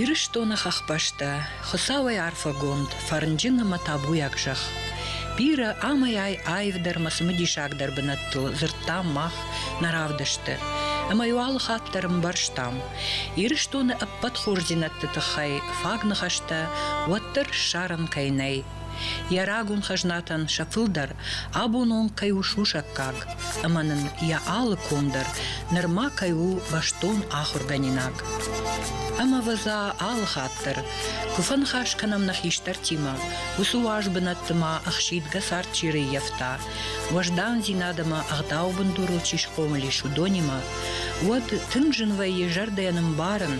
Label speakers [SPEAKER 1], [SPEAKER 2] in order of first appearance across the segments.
[SPEAKER 1] Ирыстоны хӕхбӕстӕ, Хуыцауӕй арфӕгонд, фӕрнджын ӕмӕ табуйаг зӕхх. Бирӕ амӕй-ай аивдӕрмӕ цымыдисагдӕр бынӕттыл дзырдтам мах, нӕ равдысты. Ӕмӕ иу алы хатт дӕр ӕмбӕрстам, Ирыстоны ӕппӕт хорздзинӕдты тыххӕй фаг ныхӕстӕ уӕддӕр ссарын кӕй нӕй, Йӕ рагон хӕзнатӕн сӕ фылдӕр абон онг кӕй у сусӕггаг ӕмӕ нын йӕ алы ком дӕр нырма кӕй у бӕстон ахуыргӕнинаг. Ӕмӕвӕдза алы хатт дӕр куы фӕныхас кӕнӕм нӕ хистӕртимӕ, уыцы уаз бынӕтты ма ӕхсидгӕ цард чи рӕййӕфта, уӕздандзинад ӕмӕ ӕгъдауы бындурыл чи схъомыл ис, уыдонимӕ, уӕд тынг зын вӕййы зӕрдӕйӕн ӕмбарын,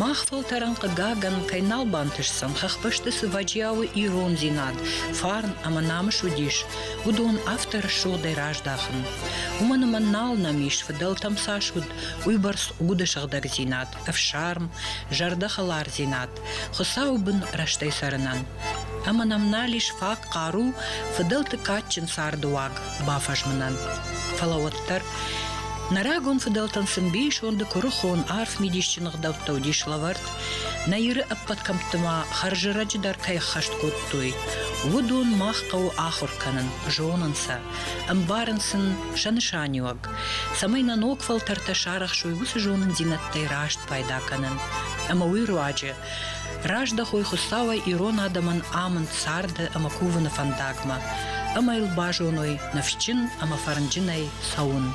[SPEAKER 1] мах фӕлтӕрӕн, хъыгагӕн, кӕй нал бантысдзӕн, хӕхбӕсты цы вӕджиауы ирондзинад, фарн ӕмӕ намыс уыдис, уыдон авторы рӕсугъдӕй раздахын. Уымӕн ӕмӕ нал нӕм ис, фыдӕлтӕм цас уыд, уыйбӕрц уды сыгъдӕгдзинад. ӕфсарм, зӕрдӕхӕлардзинад, Хуыцауы бын рӕстӕй цӕрынӕн. Ӕмӕ нӕм нал ис фаг хъару фыдӕлты кадджын цардыуаг бафӕзмынӕн. Фӕлӕ уӕддӕр Нӕ рагон фыдӕлтӕн сын бисонды куырыхон, арф мидисджын ӕгъдӕуттӕ уыдис лӕвӕрд, нӕ Иры ӕппӕт кӕмтты ма хӕрзӕрӕджы дӕр кӕй ӕххӕст кодтой, уыдон мах хъӕуы ахуыр кӕнын, зонын сӕ, ӕмбарын сын сӕ нысаниуӕг. цӕмӕй нӕ ног фӕлтӕртӕ сарӕхсой уыцы зонындзинӕдтӕй раст пайда кӕнын ӕмӕ уый руаджы раздӕхой Хуыцауӕй ирон адӕмӕн амынд царды ӕмӕ кувыны фӕндагмӕ ӕмӕ йыл базоной ныфсджын ӕмӕ фӕрнджынӕй цӕуын.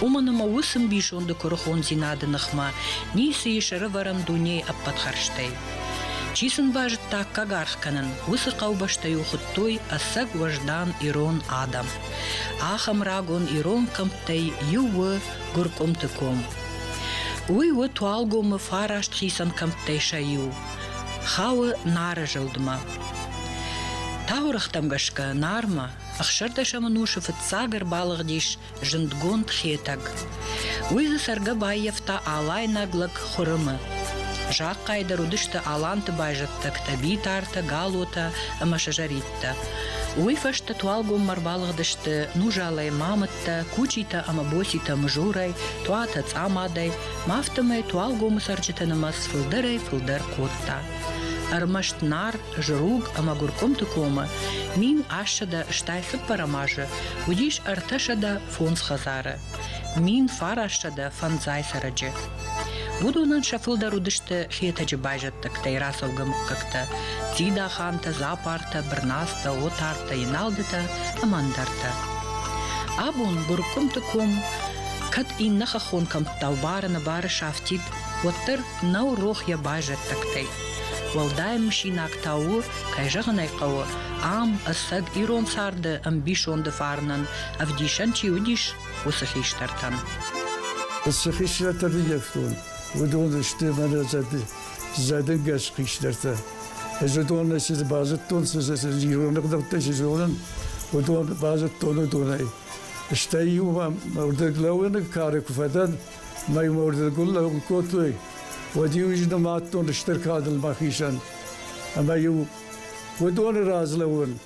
[SPEAKER 1] Уымӕн ӕмӕ уыцы мбисонды куырыхондзинады ныхмӕ ницы ис ӕрывӕрӕн дунейы ӕппӕт хӕрзтӕй. Чи сын базыдта аккаг аргъ кӕнын, уыцы хъӕубӕстӕ-иу хуыдтой ӕцӕг уӕздан ирон адӕм. Ахӕм рагон ирон кӕмттӕй иу у Гуыркъуымты ком. Уый у Туалгомы фараст хицӕн кӕмттӕй сӕ иу. Хауы Нары зылдмӕ. Таурӕгътӕм гӕсгӕ Нармӕ ӕхсӕрдӕсӕм ӕнусы фыццаг ӕрбалыгъдис зындгонд Хетӕг. Уый дзы цӕргӕ баййӕфта алайнаг лӕг Хуырымы. Захъхъайы дӕр уыдысты аланты байзӕддӕгтӕ Битартӕ, Галотӕ ӕмӕ Сызӕритӕ. фӕлгӕттӕ. Уый фӕстӕ туалгоммӕ ӕрбалыгъдысты Нужалӕй мамыттӕ, Кучитӕ ӕмӕ Боситӕ Мызурӕй, Туатӕ Цъамадӕй, ма афтӕмӕй туалгомы цӕрджыты нымӕц фылдӕрӕй-фылдӕр кодта. Ӕрмӕст Нар, Зруг ӕмӕ Гуыркъуымты комы мин ассӕдӕ, стӕй цыппӕрӕм азы уыдис ӕртӕсӕдӕ фондз хӕдзары. мин фарӕссӕдӕ фӕндзай цӕрӕджы. Уыдонӕн сӕ фылдӕр уыдысты Хетӕджы байзӕддӕгтӕй рацӕугӕ мыггӕгтӕ – Дзидахантӕ, Запартӕ, Бырнацтӕ, Отартӕ, Еналдытӕ ӕмӕ ӕндӕртӕ. Абон Гуыркъуымты ком кӕд иннӕ хӕххон кӕмттау бары-нӕбары сафтид, уӕддӕр нӕу рох йӕ байзӕддӕгтӕй. Уӕлдай мысинаг та у, кӕй зӕгъын ӕй хъӕуы, ам ӕцӕг ирон царды ӕмбисонды фарнӕн ӕвдисӕн чи уыдис,
[SPEAKER 2] уыцы хистӕртӕн. Цы хистӕртӕ ныййӕфтон, уыдон сты мӕнӕ дзӕбе зӕдынгӕс хистӕртӕ. Ӕз уыдонӕй цы базыдтон, цы ирон ӕгъдӕуттӕй цы зонын, уыдон базыдтон уыдонӕй. Стӕй иу мӕрдыг лӕууыны кары куы фӕдӕн, мӕй мӕрдыгыл лӕуын кодтой, уӕд-иу ӕз нымадтон стыр кадыл мӕхицӕн. Ӕмӕ-иу уыдоны раз лӕууын,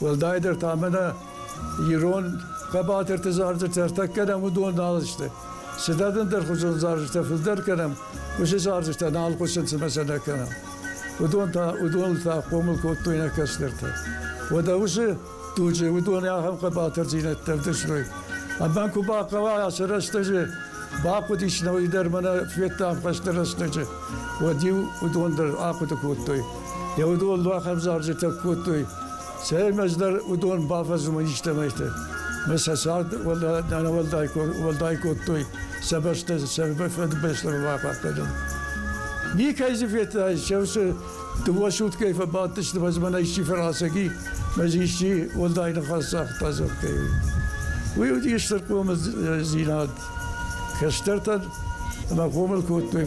[SPEAKER 2] Уӕлдайдӕр та мӕнӕ ирон хъӕбатырты зарджытӕ ӕртӕ кӕнӕм, уыдон нал сты. Цыдӕр ӕндӕрхуызон зарджытӕ фылдӕр кӕнӕм, уыцы зарджытӕ нал хъуысын, цымӕ сӕ нӕ кӕнӕм. Уыдон та, уыдон та хъомыл кодтой нӕ кӕстӕртӕ. Уӕдӕ уыцы дуджы уыдон ахӕм хъӕбатырдзинӕдтӕ ӕвдыстой. Ӕмӕ куы бахъӕуа ацы рӕстӕджы, бахъуыдис нӕуый дӕр мӕнӕ Федтам хӕсты рӕстӕджы, уӕд-иу уыдон дӕр ахъуыды кодтой, Йӕ уыдон бахӕвзарджытӕ кодтой, цӕмӕй ӕз дӕр уыдон бафӕзмын истӕмӕйты. Мы сӕ цард уӕлдай кодтой, сӕ бӕстӕ сӕ фӕдбӕстӕмӕ бахъахъхъӕнын. Никӕй дзы федтай, чем сӕ дыууӕ суткӕйы фӕбадтысты мӕнӕ исчи фӕрасӕги, мӕз исчи уӕлдай ныхас цагъта зӕгъгӕй. Уый уыди стыр хъомындзинад. Кӕстӕртӕн ӕмӕ хъомыл кодтой.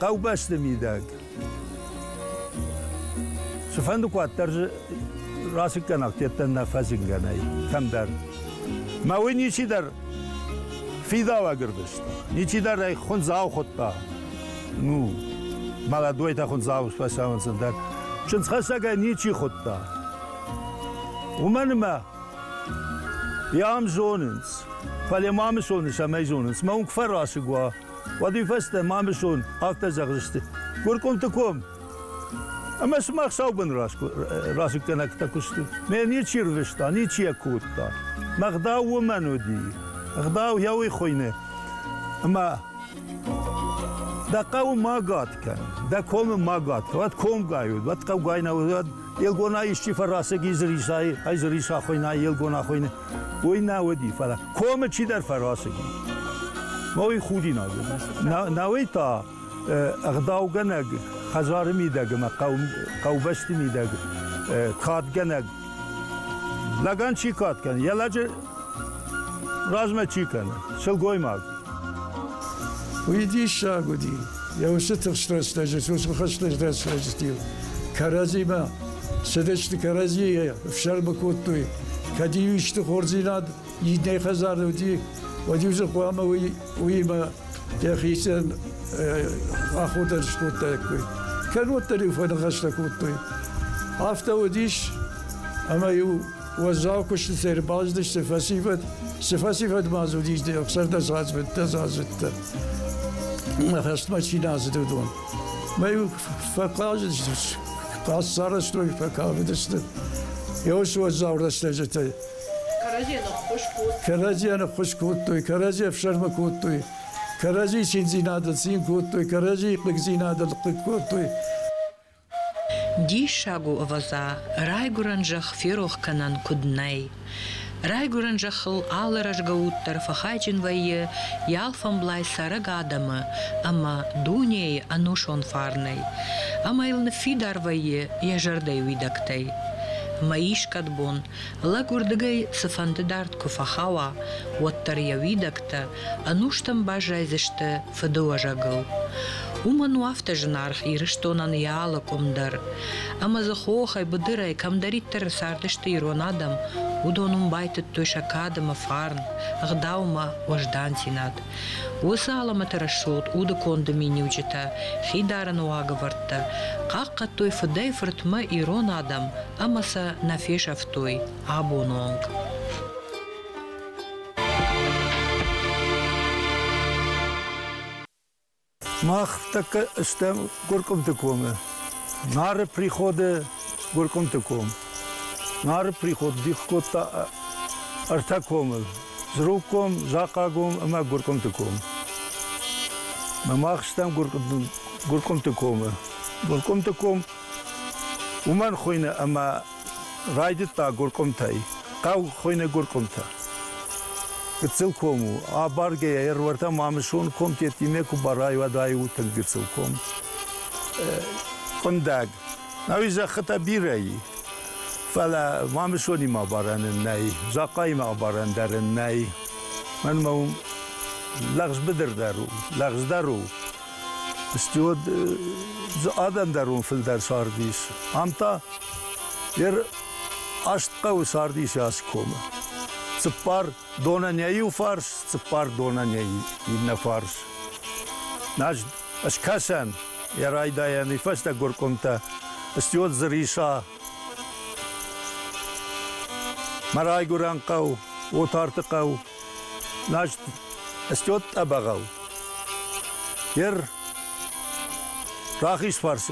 [SPEAKER 3] Хъӕубӕсты мидӕг. Цыфӕнды куад дӕр дзы расыггӕнах дӕттӕн нӕ фӕзынгӕ нӕй кӕмдӕр. Мӕ уый ничидӕр фидауаг ӕрдыст, ничидӕр ӕй хуындзау хуыдта. Ну, молодой-то хуындзау фӕсамындзын дӕр чындзхӕссӕгӕй ничи хуыдта. Уымӕн ӕмӕ йӕ ам зонынц, фӕлӕ ма мы зоныс ӕмӕ зонынц, мӕ уынг фӕрасыг уа, Уӕд уый фӕстӕ Мамысон афтӕ зӕгъдзысты, Гуркъуымты ком, ӕмӕ сымах саубын расыггӕнӕгтӕ куы сты. Ме ничи рвыста, ничи йӕ кодта. Мӕ гъдау уымӕн уыди. Гъдау йӕ уый хуыйны. Ӕмӕ дӕ хъӕуы ма гад кӕн, дӕ комы ма гад кӕн, уӕд комгай уыд, уӕд хъӕугай нӕ уыд, уӕд елгонӕй исчи фӕрасыг и, зы рисай, ай зы риса хуыйна, елгон ахуыйны. уый нӕ уыди, фӕлӕ комы чидӕр фӕрасыди. Уый худинаг уыд. Науӕй та ӕгъдаугӕнӕг хӕдзары мидӕг ӕмӕ хъӕубӕсты мидӕг кадгӕнӕг лӕгӕн чи кад кӕны, йӕ лӕджы размӕ чи кӕны, сылгоймаг. Уый
[SPEAKER 2] диссаг уыди. Йӕ усы тыхст рӕстӕджы, сусмы хӕстӕджы рӕстӕджы стил кӕрӕдзимӕ Советские кӕрӕдзийы ӕфсӕрмы кодтой. Кӕд иу исты хорздзинад иннӕ хӕдзары уыди, уӕд иу дзы хъуамӕ уый уыимӕ йӕхицӕн охота скодтаиккой. Кӕнноддӕр-иу фӕныхӕстӕ кодтой. Афтӕ уыдис, ӕмӕ-иу уӕззау куыстытӕ ӕрбаздысты фӕсивӕд. Цы фӕсивӕд ма дзы уыдис, сӕрдӕсаздзыдтӕ, хӕстмӕ чи нӕ ацыд, уыдон. Мӕй фӕхъазыдысты, хъӕссарӕзтой, фӕкафыдысты. Ёс уӕззау рӕстӕджытӕй. Кӕрӕдзийӕ ныххуыз кодтой. Кӕрӕдзийӕ ныххуыз кодтой, кӕрӕдзи ӕфсӕрмы кодтой, кӕрӕдзи циндзинадыл цин кодтой, кӕрӕдзи хъыгдзинадыл хъыг кодтой.
[SPEAKER 1] Диссаг у, ӕвӕдза, райгуырӕн зӕхх ферох кӕнӕн куыд нӕй. Райгуырӕн зӕххыл алы рӕзгӕ уд дӕр фӕхайджын вӕййы йӕ алфӕмблай цӕрӕг адӕмы ӕмӕ дунейы ӕнусон фарнӕй, ӕмӕ йыл ныффидар вӕййы йӕ зӕрдӕйы уидӕгтӕй. Ӕмӕ искӕд бон, лӕг уырдыгӕй цыфӕнды дард куы фӕхауа, уӕддӕр йӕ уидӕгтӕ ӕнустӕм баззайдзысты фыдыуӕзӕгыл. Уымӕн у афтӕ зынаргъ Ирыстонӕн йӕ алы къуым дӕр. Ӕмӕ дзы хохӕй, быдырӕй кӕмдӕриддӕр цардысты ирон адӕм, уыдон уым байтыдтой сӕ кадымы фарн, ӕгъдаумӕ уӕздандзинад. Уыцы алӕмӕты рӕсугъд удыконды миниуджытӕ, хидарыны уагӕвӕрдтӕ хъахъхъӕдтой фыдӕй-фыртмӕ ирон адӕм ӕмӕ сӕ нӕ фесӕфтой абоны онг.
[SPEAKER 3] Мах тӕккӕ стӕм Гуыркъуымты комы. Нары приходы Гуыркъуымты ком. Нары приход дих кодта ӕртӕ комы. Зруг ком, Захъа ком ӕмӕ Гуыркъуымты ком. Мах стӕм Гуыркъуымты комы. Гуыркъуымты ком уымӕн хуыйны ӕмӕ Райдыдта гуркъуымтӕй. Хъӕу хуыйны Гуркъуымтӕ. Гыццыл ком у. Абаргӕйӕ ӕруӕртӕм Амысон ком тедтимӕ куы барай, уӕд айу тынг гыццыл ком. Къуындӕг. Науи зӕххытӕ бирӕ и. Фӕлӕ Мамысонимӕ абарӕнын нӕй, Захъаимӕ абарӕн дарын нӕй. Мӕнмӕ уым лӕгъз быдырдӕр у, лӕгъздӕр у. Стӕй уӕд дзы адӕмдӕрон фылдӕр цард ис. Ам та йе аст хъӕуы цард ис ацы комы. Цыппар донанӕй иу фарс, цыппар донанӕй иннӕ фарс. Значит, скӕсӕн йӕ райдайӕны фӕстӕ горкомтӕ стӕй дзы риса Мӕ райгурӕн хъӕу, Отарты хъӕу, Назт стӕд тъӕбӕгъӕу. Ер рахизфарс,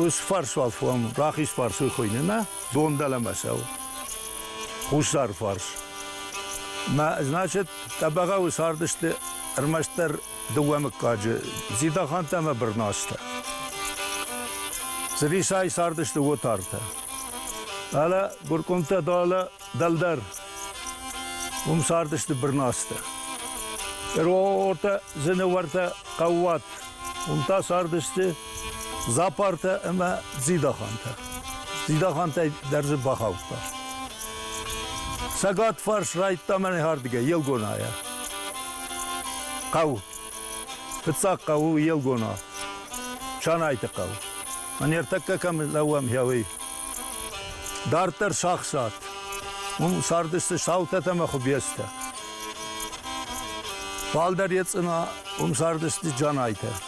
[SPEAKER 3] усфарс уал фом, рахизфарс уй хуйни, нӕ? Дон дӕлӕмӕ сау. Хуссар фарс. Мӕ, значит, тъӕбӕгъӕуы цардысты ӕрмӕстдӕр дыууӕ мыггаджы, Дзидаханты ӕмӕ Бырназтӕ. Цыдисӕй цардысты Отартӕ. Алӕ, Гуркъуымтӕ та алӕ дӕлдӕр. Уым цардысты Бырназтӕ. Ироортӕ, Зынауӕртӕ, Хъӕууат. Уым та цардысты Зӕпартӕ ӕмӕ Дзидахантӕ. Дзидахантӕй дӕр дзы бахаудта. Цӕгат фарс райдта мӕнӕхӕрдыгӕй Елгонайӕ. Хъӕу. Фыццаг хъӕу у Елгона. Чанайты хъӕу. Ныртӕккӕ кӕм лӕууӕм хъӕуӕй. Дарддӕр сахсат. Уым цардысты саутӕ ӕмӕ хуыбецтӕ. Фалдӕр ецъына, уым цардысты джанайтӕ.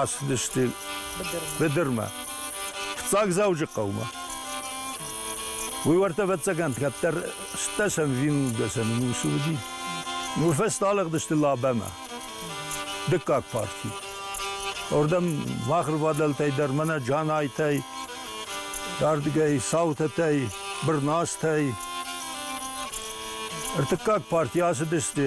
[SPEAKER 3] Ацыдысты быдырмӕ, фыццаг Дзӕуджыхъӕумӕ. Уый уӕртӕ ӕвӕццӕгӕн кӕддӕр стӕсӕн вингдӕсӕн ус уыди. Уый фӕстӕ алыгъдысты Лабӕмӕ, дыккаг парти. Уырдӕм бахӕрвадӕлтӕй дӕр мӕнӕ Джанайтӕй, ардыгӕй Саутӕтӕй, Бырназтӕй. Ӕртыккаг парти ацыдысты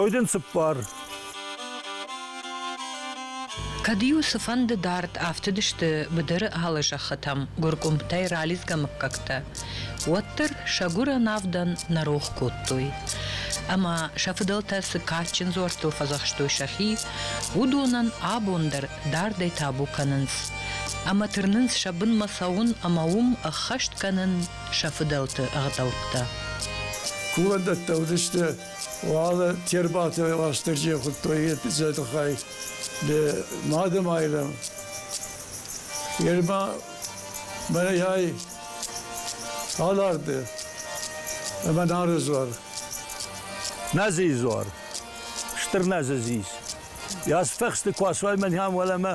[SPEAKER 3] Ой дын цыппар.
[SPEAKER 1] Кӕд-иу цыфӕнды дард афтыдысты быдыры алы зӕххытӕм гуыркъуымтӕй ралидзгӕ мыггӕгтӕ, уӕддӕр сӕ гуырӕн авдӕн нӕ рох кодтой. Ӕмӕ сӕ фыдӕлтӕ цы кадджын дзуӕрттыл фӕдзӕхстой сӕхи, уыдонӕн абон дӕр дардӕй табу кӕнынц ӕмӕ тырнынц сӕ бынмӕ цӕуын ӕмӕ уым ӕххӕст кӕнын сӕ фыдӕлты ӕгъдӕуттӕ.
[SPEAKER 2] Кувӕндӕттӕ уыдысты, уал Тербаты Уастырджи хуыдтой йӕ тыххӕй Мады Майрӕм. Ерма мӕнӕй Аларды ӕмӕ Нары дзуар.
[SPEAKER 3] Нӕзыйы дзуар. Стыр Нӕзы зис. Йӕ астӕхсты куы асуай мӕн ам уӕлӕмӕ,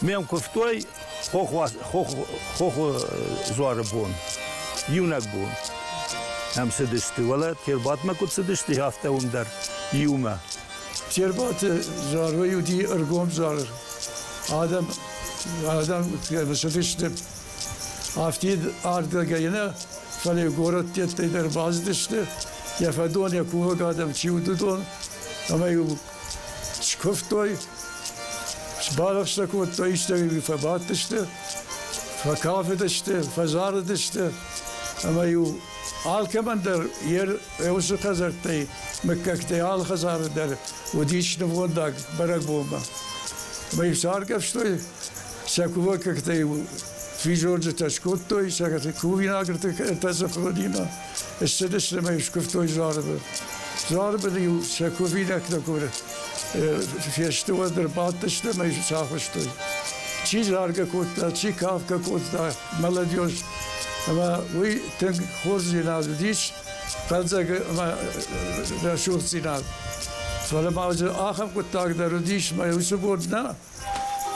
[SPEAKER 3] Ме мкуывтой хохы дзуары бон, иунӕг бон ӕм цыдысты. Уӕлӕ Тербатмӕ куыд цыдысты, афтӕ уым дӕр иумӕ. Тербаты
[SPEAKER 2] Зарвай уыди ӕргом зар. Адӕм, адӕм цыдысты афтид ардыгӕй нӕ, фӕлӕ иу горӕттӕй дӕр бацыдысты, йӕ фӕдон, йӕ кувӕг адӕм чи уыд, уыдон, ӕмӕ иу Скуывтой, сбалӕфсӕ кодтой, истӕмӕ фӕбадтысты, фӕкафыдысты, фӕзарыдысты, ӕмӕ-иу алкӕмӕн дӕр йе усы хӕдзӕрттӕй, мыггӕгтӕй алы хӕдзары дӕр уыдис нывгъуыддаг бӕрӕгбонмӕ. Ӕмӕ-иу саргӕвстой, сӕ кувӕггӕгтӕ-иу физорджытӕ скодтой, сӕ кувинагрты кӕртӕ сыхладимӕ. Ссыдысты мӕ скуывтой Зуарыбы. Зуарыбыны-иу сӕ кувинӕгтӕ куры фесты, уӕд ӕрбадтысты мӕ сахуыстой. Чи заргӕ кодта, чи кавкӕ кодта молодежь, ӕмӕ уый тынг хорздзинад уыдис, фӕлдзӕг ӕмӕ рӕсугъддзинад. Фӕлӕ ма ахӕм хъуыддаг дӕр уыдис мӕ уыцы бон нӕ,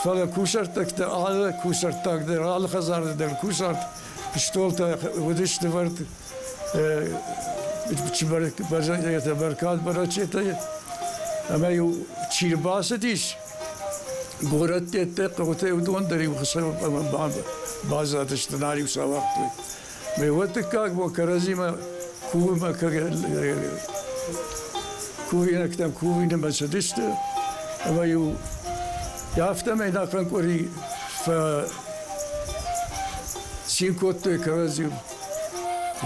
[SPEAKER 2] Фӕлӕ кусӕрттӕгтӕ алы кусӕрттаг дӕр, алы хӕдзары дӕр кусарт стъолтӕ уыдысты ӕвӕрд бӕзӕнтӕ, бӕркад бӕрӕчетӕ, ӕмӕ-иу чи рбацыдис, горӕттӕ, хъӕутӕ уыдон дӕр-иу хсӕв баззадысты, нар-иу сӕ уагътой. Меуӕ дыккаг бо кӕрӕдзимӕ кувимӕ кувинӕгтӕм кувинымӕ цыдысты, ӕмӕ-иу афтӕмӕй ӕнӕхъӕн къуыри фӕцин кодтой кӕрӕдзи.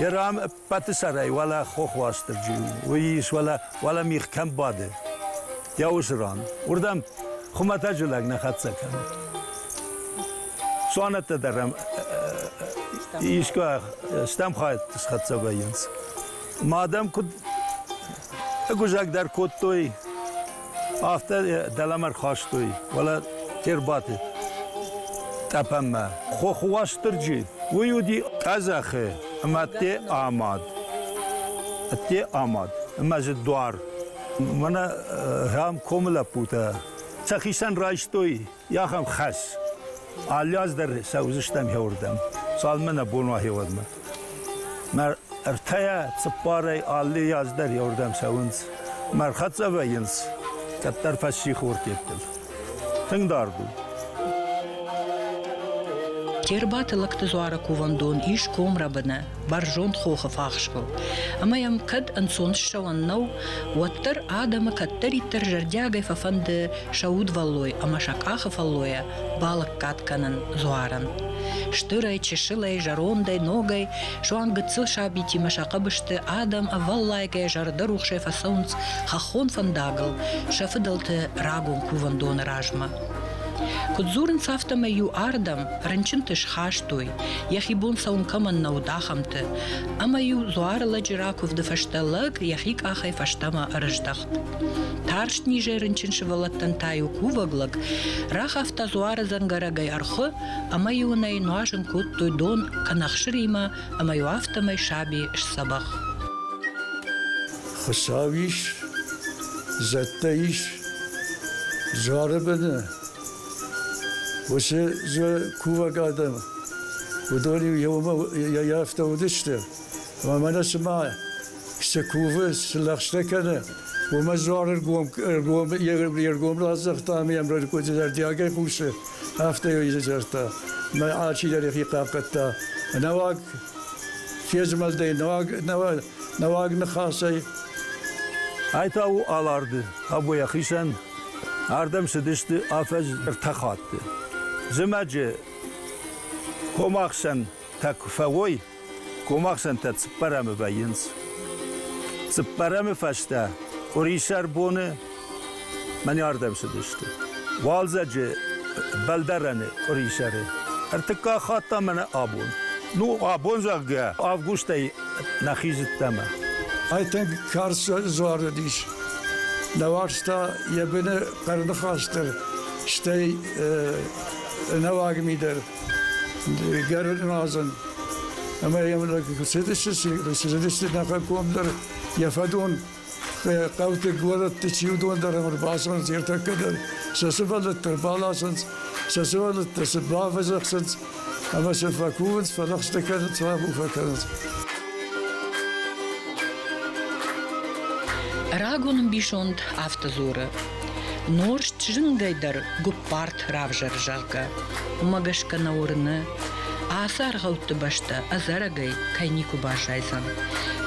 [SPEAKER 2] Йӕ
[SPEAKER 3] ран ӕппӕты сӕрӕй уӕлӕ хох Уастырджи у, уый ис уӕлӕ, уӕлӕ мих кӕм бады, йӕ уыцы ран. Уырдӕм хуымӕтӕджы лӕг нӕ хӕццӕ кӕны. Цуанӕттӕ дӕр ӕм искуы стӕм хайадты схӕццӕ вӕййынц. Ма дӕм куыд ӕгуызӕг дӕр кодтой, афтӕ дӕлӕмӕ рхастой. Фӕлӕ те рбадт тъӕпӕнмӕ. Хохы Уастырджи, уый уыди къӕдзӕхы ӕмӕ ӕдде амад. Ӕдде амад ӕмӕ дзы дуар. Мӕнӕ ахӕм комы лӕппутӕ сӕхицӕн райстой Ахӕм хӕс. Алы аз дӕр цӕудзыстӕм хеуырдӕм, цалынмӕ нӕ бон уа хеуӕдмӕ. Мӕ ӕртӕйӕ цыппарӕй алы аз дӕр хеуырдӕм цӕуынц. Мӕ хӕццӕ вӕййынц кӕддӕр фӕсси хортеттыл. Тынг дард у.
[SPEAKER 1] Тербаты лӕгты дзуары кувӕндон ис комрӕбыны. бӕрзонд хохы фахсбыл. Ӕмӕ йӕм кӕд ӕнцон ссӕуӕн нӕу, уӕддӕр адӕмы кӕддӕриддӕр зӕрдиагӕй фӕфӕнды сӕ удвӕллой ӕмӕ сӕ къахы фӕллойӕ балӕггад кӕнын дзуарӕн. Стырӕй, чысылӕй, зӕрондӕй, ногӕй, суанг гыццыл сабитимӕ сӕ хъӕбысты адӕм ӕвӕллайгӕйӕ зӕрдӕрухсӕй фӕцӕуынц хӕххон фӕндагыл сӕ фыдӕлты рагон кувӕндоны размӕ. Куыд дзурынц, афтӕмӕй-иу ардӕм рынчынты схастой, йӕхи бон цӕуын кӕмӕн нӕ уыд, ахӕмты. Ӕмӕ-иу дзуары лӕджы ракуывды фӕстӕ лӕг йӕхи къахӕй фӕстӕмӕ ӕрыздӕхт. Тарст низӕй рынчын сывӕллӕттӕн та-иу кувӕг лӕг рахафта дзуары дзӕнгӕрӕгӕй ӕрхуы ӕмӕ-иу ын ӕй нуазын кодтой дон кӕнӕ хсыримӕ ӕмӕ-иу афтӕмӕй саби сдзӕбӕх.
[SPEAKER 2] Хуыцау ис, зӕдтӕ ис, згъӕры быны уыцы зы кувӕг адӕм, уыдон иумӕ йӕ афтӕ уыдысты. Ӕмӕ нӕ цыма цы кувы, цы лӕгъстӕ кӕны, уымӕ дзуар ӕргом, ӕргом, йе ргом раздзырдта ӕмӕ йӕм рӕдыкъуыды зӕрдиагӕй хъусы, афтӕ йӕ дзырдта. Мӕ ачидӕр йӕхи хъахъхъӕдта. Нӕуӕг фезмӕлдӕй, нӕуӕг, нӕуӕг Нӕуӕг ныхасӕй,
[SPEAKER 3] ай та у Аларды. Абойы хицӕн ардӕм цыдысты афӕдз ӕртӕ хатты. Зымӕджы комахсӕнтӕ куы фӕуой, комахсӕнтӕ цыппӕрӕмы вӕййынц. Цыппӕрӕмы фӕстӕ къуырисӕр боны Мӕн ардӕм цыдысты. Уалдзӕджы бӕлдарӕны къуырисӕры. Ӕртыккаг хатт та мӕнӕ абон. Ну, абон, зӕгъгӕ, августӕй нӕхи зыдтамӕ. Айтег
[SPEAKER 2] карз дзуарыдис. Нӕ уарзта йӕ быны хъӕрныхас дӕр, стӕй ӕнӕуаг ми дӕр Гӕрназӕн. Ӕмӕ йӕм цыдысты, цыдысты нӕхӕггомдӕр, йӕ фӕдон хъӕуты горӕтты чи уыдон дӕр ӕрбацӕуынц ӕртӕккӕ дӕр сӕ сывӕллӕттӕ ӕрбаласынц, сӕ сывӕллӕттӕ сын бавӕзӕхсынц ӕмӕ сын фӕкувынц, фӕлӕгъстӕ кӕнынц, фӕбуфӕ кӕнынц.
[SPEAKER 1] Рагон ӕмбисонд автодзоры Норст зынгӕй дӕр гуыппарт равзӕр, зӕгъгӕ, уымӕ гӕсгӕ нӕ уырны, ацы аргъӕутты бӕстӕ ӕдзӕрӕгӕй кӕй никуы баззайдзӕн,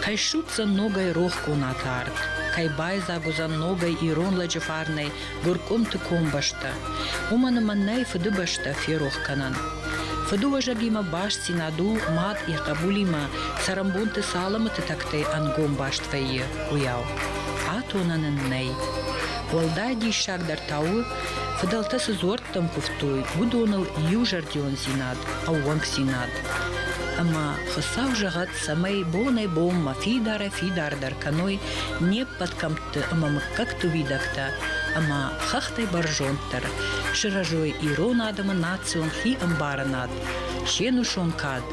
[SPEAKER 1] кӕй ссудздзӕн ногӕй рох бунаты арт, кӕй байдзаг уыдзӕн ногӕй ирон лӕджы фарнӕй гуыркъуымты комбӕстӕ, уымӕн ӕмӕ нӕй фыдыбӕстӕ ферох кӕнӕн. Фыдыуӕзӕгимӕ бастдзинад у мад йӕ хъӕбулимӕ цӕрӕнбонты цы алӕмӕты тӕгтӕй ӕнгом баст вӕййы, уыйау. Атонӕн ын нӕй. Уӕлдай диссагдӕр та у, фыдӕлтӕ цы дзуӕрттӕм куывтой, уыдоныл иузӕрдиондзинад, ӕууӕнкдзинад. Ӕмӕ Хуыцау зӕгъӕд, цӕмӕй бонӕй-бонмӕ фидарӕй-фидардӕр кӕной не ппӕт кӕмтты ӕмӕ мыггӕгты уидӕгтӕ ӕмӕ хӕхтӕй бӕрзонддӕр, сырӕзой ирон адӕмы национ хи ӕмбарынад, се нусон кад